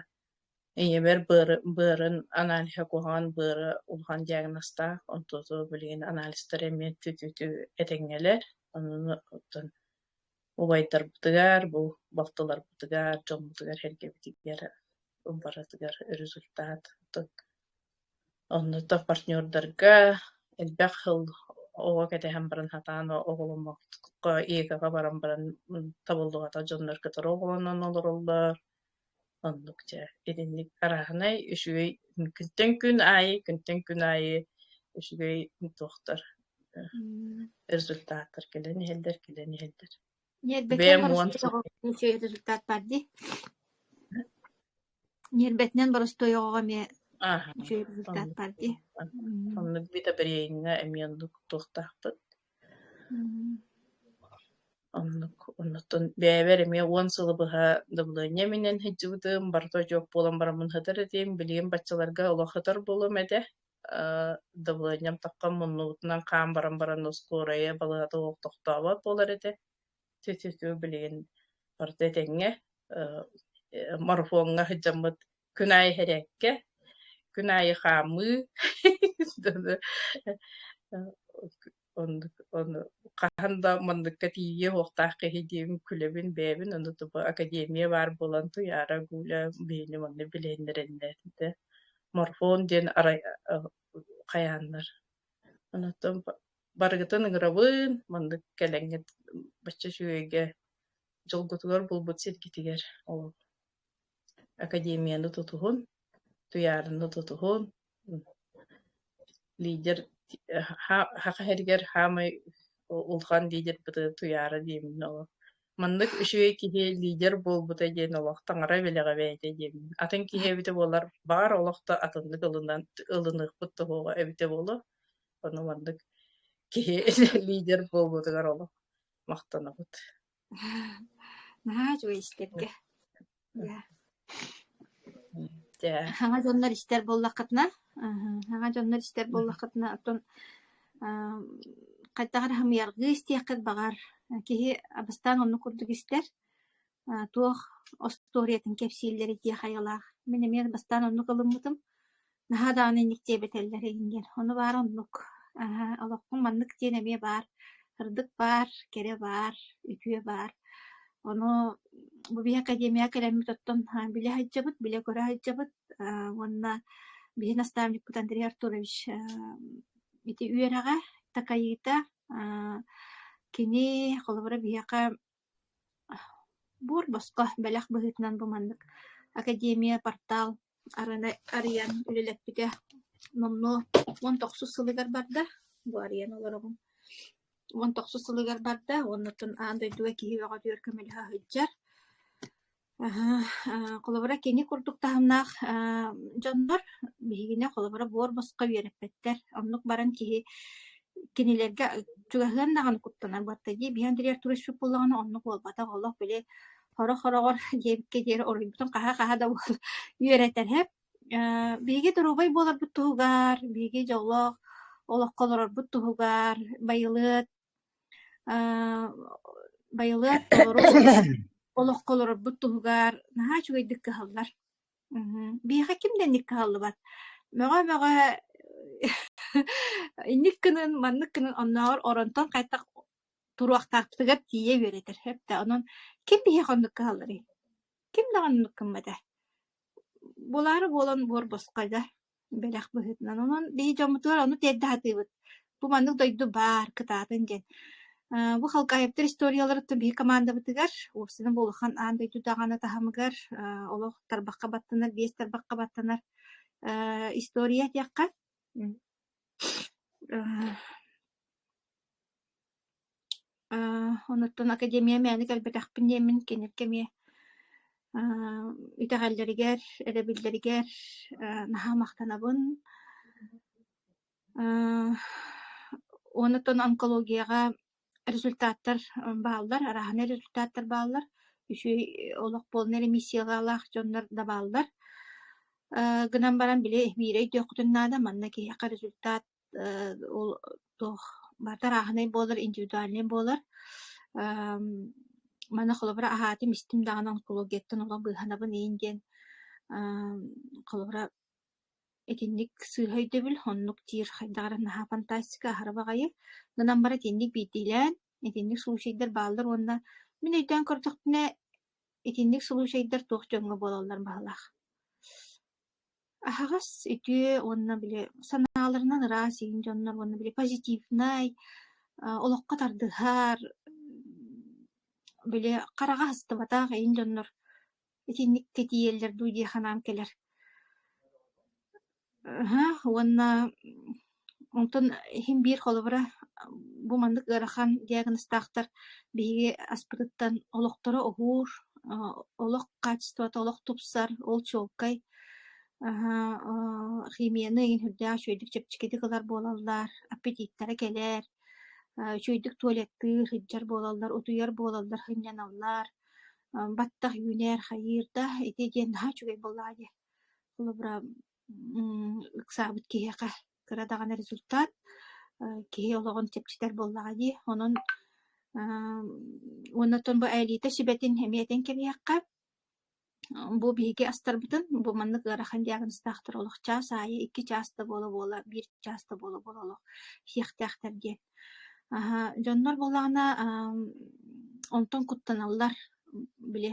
ийэбэр быары быарын аналиһа куһаҕан быара улахан диагнозтаах онтуту билигин анализтар эмиэ түтүтү этэҥҥэлэр онуну оттон убайдарбытыгар, бу балтыларбытыгар, дьоммутугар сэргэбитигэр барытыгар результат. Оннук партнердарга элбэх сыл оҕо кэтэһэн баран сатаан оҕоломмокко ИК-га баран баран табыллыбата дьоннор кытары оҕолонон олороллор Оннук дьэ итинник араһынай үчүгэй күнтэн күн аайы күнтэн күн аайы үчүгэй туохтар э, результаттар кэлэн иһэллэр кэлэн иһэллэр. Ньиэрбэтинэн боростуой результат бар дии. Ньиэрбэтинэн боростуой оҕоҕо эмиэ үчүгэй результат бар дии. Оннук битабриэҥҥэ эмиэ оннук туохтаахпыт Оннук, оннуктун бэйэбэр эмиэ уон сылы быһа дабылыанньа иминэн сылдьыбытым, барыта очуок буолан бараммын сытар этим, билигин баччаларга олох сытар буолуом этэ. Э, дабылыанньам таххан муннубутунан хаан баран баран оскуорайа балыһата суох тохтообот буолар этэ. Тю-тю-тю билигин барыта этэҥҥэ. Э, марафоҥҥа сылдьаммыт күн аайы иһэрээккэ, күн аайы хаамыы ону хаһан да манныкка тиийиэ уохтаах киһи диэбин күлэбин бэйэбин ону тупа академия баар буолан туйаара гуля бэйэни манна билиэннэрэннээтэ морфон диэн арай хайааннар онтон барыгытын ыҥырабын маннык кэлэҥҥит бачча үчүгэйгэ дьолгутугар булбут сиргитигэр ол академияны тутуһун, туйаарыны тутуһун, лидер хаха иһэригэр хаамай улахан лидербыты туйаара диэмин ол маннык үчүгэй киһи лидер буолбута диэн олох таҥара бэлэҕэ бэйэтэ диэмин атын киһи эбитэ буолар баар олохто атыннык ылынан ылыныахпыт тоһоҕо эбитэ буолуо ону маннык киһи лидер буолбутугар олох махтанабыт Наһаа үчүгэй истэргэ. Дьэ. Дьэ. Саҥа дьоннор истэр буоллаххытына, саҥа дьоннор истэр буоллаххытына, оттон хайдах эрэ хамыйаргыы истиэххит баҕар. Киһи бастаан оннук курдук истэр. туох остуоруйатын кэпсииллэрий дии хайалаах. Мин эмиэ бастаан оннук ылыммытым. Наһаа даҕаны инник диэбэтэллэр иһингэр, ону баар оннук. Аһа, олохпун маннык диэн эмиэ баар. Ырдык баар, кэрэ баар, үтүө баар. Ону бу биһи академияҕа кэлэммит оттон а, билэ сылдьабыт, билэ көрө сылдьабыт а, уонна биһи наставникпыт Андрей Артурович а, ити үөрэҕэ, такайыыта а, кини холобура биһиэхэ Буор босхо бэлэх быһыытынан бу маннык академия портал арыны арыйан үлэлэппитэ номнуо уон тохсус сылыгар барда. Бу арыйан олоробун. Уон тохсус сылыгар барда уонна оттон аан дойдуга киһи бөҕөтүгэр көмөлөһө сылдьар. Холобура, кини курдук таһымнаах дьоннор биһигини холобура буор-босхо үөрэппэттэр. Оннук баран киһи кинилэргэ чугаһыан даҕаны куттанар буолта дии. Били Андрей Артурович Чуппуллаҕына оннук буолбатах. Олох били хороҕ-хороҕор диэбиккэ диэри уруйбутун хаһа-хаһа да үөрэтэрһэп. Биһиги доруобай буоларбыт туһугар, биһиги дьоллоох олоххо олорорбут туһугар байылыат Аа, байылыат толору олоххо олорорбут туһугар наһаа үчүгэйдик кыһаллар. Мгм. Биһиэхэ ким да инник кыһаллыбат. Мөҕө-мөҕө инник гынын, маннык гынын оннооҕор оронтон хайдах туруохтаахпытыгар тиийэ үөрэтэр сөптөөх. Онон ким биһиэхэ оннук кыһалларый? Ким даҕаны оннук гыммата. Буолаары буолан буор босхой да. бэлэх быһыытынан. Онон биһи дьоммутугар ону тиэрдэ сатыыбыт. Бу маннык дойду баар, кытаатын диэн. Э, бу халкаһыттар историяларыттан биһи командабытыгар, уопсана буолухан аан дойду даҕаны таһымыгар э, олох тарбахха баттанар, биэс тарбахха баттанар э, история диэххэ. Э, Аа, онуттан академия мээнэ кэлбэтэхпин диэммин, кинилэргэ эмиэ аа итэҕэллэригэр, эрэбиллэригэр аа наһаа махтанабын. Аа, онуттан онкологияҕа результаттар бааллар, арааһынай результаттар бааллар. Үчүгэй олох буолна ремиссиялаах дьоннор да бааллар. Аа гынан баран били биирэ өйдүөххүтүн наада, манна киһиэхэ результат Э, ол туох барыта арааһынай буолар, индивидуальнай буолар. Эм, манна холобура аһаатым, истим даҕаны онкологияттан олох быыһанабын иин диэн. Эм, холобура итинник сыыһа өйдөбүл, оннук диир хайдах эрэ наһаа фантастика, аһара баҕайы. Гынан баран итинник биирдиилээн, итинник случайдар бааллар уонна мин өйдөөн көрдөхпүнэ, итинник случайдар туох дьоҥҥо буолаллар баһылаах. Аһаҕас, үтүө уонна били санааларынан ыраас иин дьоннор уонна били позитивнай, олоххо тардыһар, били хараҕа аһыстыбатах иин дьоннор итинник тэтийэллэр дуу дии санаам кэлэр. Уонна Онтон иһим биир холобура бу маннык ыарахан диагнозтаахтар биһиги аспытыттан олохторо уһуур, олох хаачыстыбата олох тупсар, ол чуолкай. химияны иһин үрдээх үчүгэйдик чэпчэкитик ылар буолаллар, аппетиттэрэ кэлэр, үчүгэйдик туалеттыыр, сылдьар буолаллар, утуйар буолаллар, сынньаналлар, баттах үүнэр, хайыыр да ити диэн наһаа үчүгэй буоллаҕа дии. Холобура ыксаабыт киһиэхэ кыра даҕаны результат киһи олоҕун чэпчэтэр буоллаҕа дии онон уонна оттон бу элита сүбэтин эмиэтин кэбиһиэххэ бу биһиги астарбытын бу маннык ыарахан диагнозтаахтар олох чаас аайы икки чаас да буола буола биир чаас да буола буола олох иһиэхтээхтэр диэн Аһа, дьоннор буоллаҕына, аам, онтон куттаналлар, били,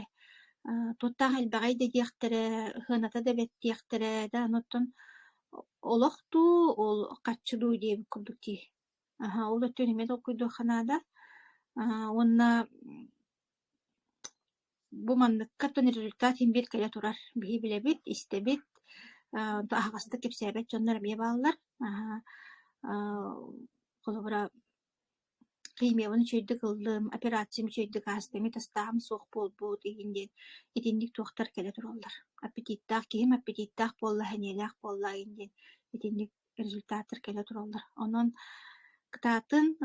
аа, туохтаах элбэҕэй да диэхтэрэ, сыаната да бэрт диэхтэрэ, да аны оттон олох дуу, ол харчы дуу диэбит курдук дии. Аһа, ол өттүн эмиэ толкуйдуохха наада. Аа, уонна Бу манныкка оттон результат син биир кэлэ турар. Биһи билэбит, истэбит, аа аһаҕастык кэпсээбэт дьоннор эмиэ бааллар. Аһа аа холобура химиябын үчүгэйдик ыллым, операциям үчүгэйдик ааста, эмиэ тастааһын суох буолбут игин диэн итинник туохтар кэлэ тураллар. Аппетиттаах киһим аппетиттаах буолла, сэниэлээх буолла игин диэн итинник результаттар кэлэ тураллар. Онон кытаатын,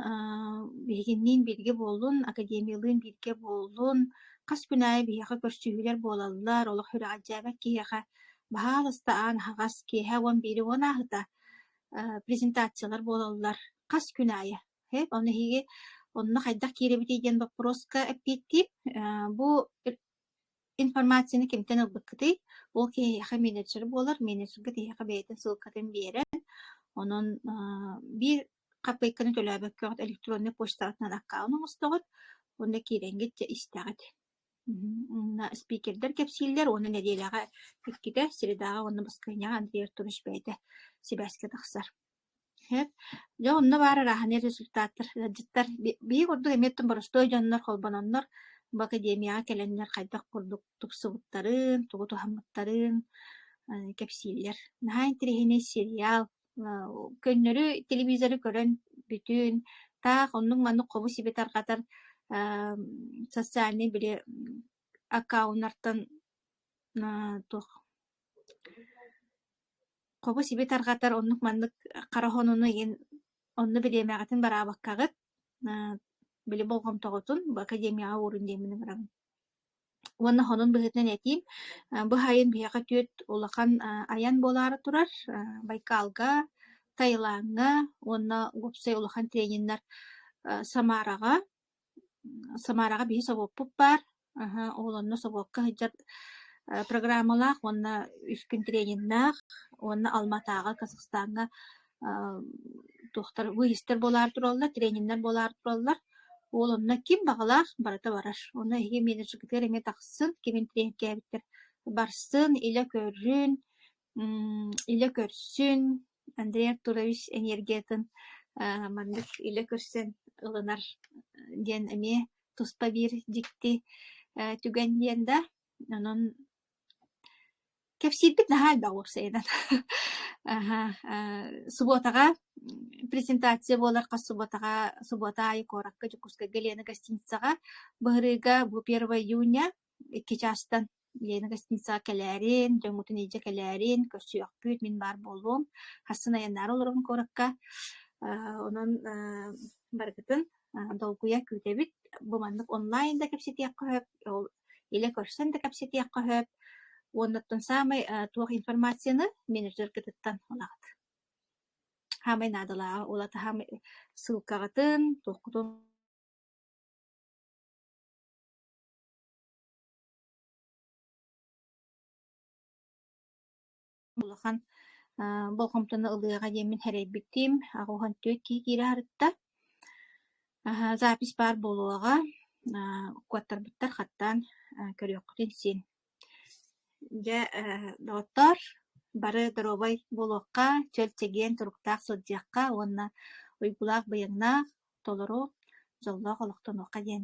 биһигинниин бииргэ буоллун, академиялыын бииргэ буоллун, хас күн аайы биһиэхэ көрсүһүүлэр буолаллар, олох үрэҕэлдьээбэт киһиэхэ баһаалыста аан аһаҕас киэһэ уон биири уон ааһыта презентациялар буолаллар хас күн аайы. Ол эһиги онно хайдах киирэбитий диэн боппуруоска эппиэттиим. Бу Информацияны кимтэн ылбыккытый? Ол киһиэхэ менеджер буолар. Менеджерга киһиэхэ бэйэтин ссылкатын биэрэн, онон аа биир хаппыайканы төлөөбөккө эҕит электроннай почтаҕытынан аккаунт оҥостоҕут уонна киирэҥҥит дьэ истэҕит. Уонна спикердэр кэпсииллэр уонна нэдиэлэҕэ иккитэ, средаҕа уонна баскыанньаҕа Андрей Артурович бэйэтэ сибээскэ тахсар. Дьэ онно баар ырааһынай результаттар ыалдьыттар биир курдук эмиэ оттон боростуой дьоннор холбононнор бу академияҕа кэлэннэр хайдах курдук тупсубуттарын, тугу туһаммыттарын кэпсииллэр. Наһаа интэриэһинэй сериал, көннөрү телевизору көрөн бүтүн, таах оннук-маннык хобу-сиби тарҕатар социальнай били аккаунтартан туох хобу-сиби тарҕатар оннук маннык хара хонууну иһин онно бириэмэҕитин бараабаккаҕыт били болҕомтоҕутун академияҕа уурун диэммин ыҥыраҕын уонна хонун быһыытынан этиим бу сайын биһиэхэ түөрт улахан айан буолаары турар байкалга таилаҥҥа уонна уопсай улахан трениннэр самараҕа Самараҕа биһи собуоппут баар, аһа, ол онно собуокка сылдьар программалаах уонна үспүн трениннаах уонна Алматааҕы, Казахстаҥҥа туохтар выездтэр буолаары тураллар, трениннэр буолаары тураллар. Ол онно ким баҕалаах барыта барар. Онно эһиги менеджергытыгар эмиэ тахсыын, кимин тренкээбиттэр барсын, илэ көрүн, М, илэ көрсүн, Андрей Артурович энергиятын а, маннык илэ көрсөн ылынар диэн эмиэ туспа биир дьикти э, түгэн диэн да. Онон кэпсиирбит наһаа элбэх уопсайынан. Аһа, а, субуотаҕа презентация буолар хас субуотаҕа субуота аайы куоракка Дьокуускайга Лена гостиницаҕа. Быһырыыга бу 1 июня Икки чаастан Лена гостиницаҕа кэлээрин, дьоҥҥутун илдьэ кэлээрин, көрсүөхпүт, мин баар буолуом. Хассан айаннаары олоробун куоракка. Аа, онон аа, барыгытын аа, долгуйа күүтэбит. Бу маннык онлайн да кэпсэтиэххэ сөп, ол илэ көрсөн да кэпсэтиэххэ сөп. Уоннаттан саамай аа, туох информацияны менеджергытыттан ылаҕыт. Саамай наадалааҕа ол ата саамай ссылкаҕытын, туоххутун улахан болҕомтону ылыаҕа диэммин сэрэйбитим аҕыһан түөрт киһи киирэ сырытта запись баар буолуоҕа укуоттарбыттар хаттаан көрүөххүтүн син дьэ доҕоттоор бары доруобай буолуохха чөл чэгиэн туруктаах сылдьыахха уонна уйгулаах байыаннаах толору дьоллоох олохтонуохха диэн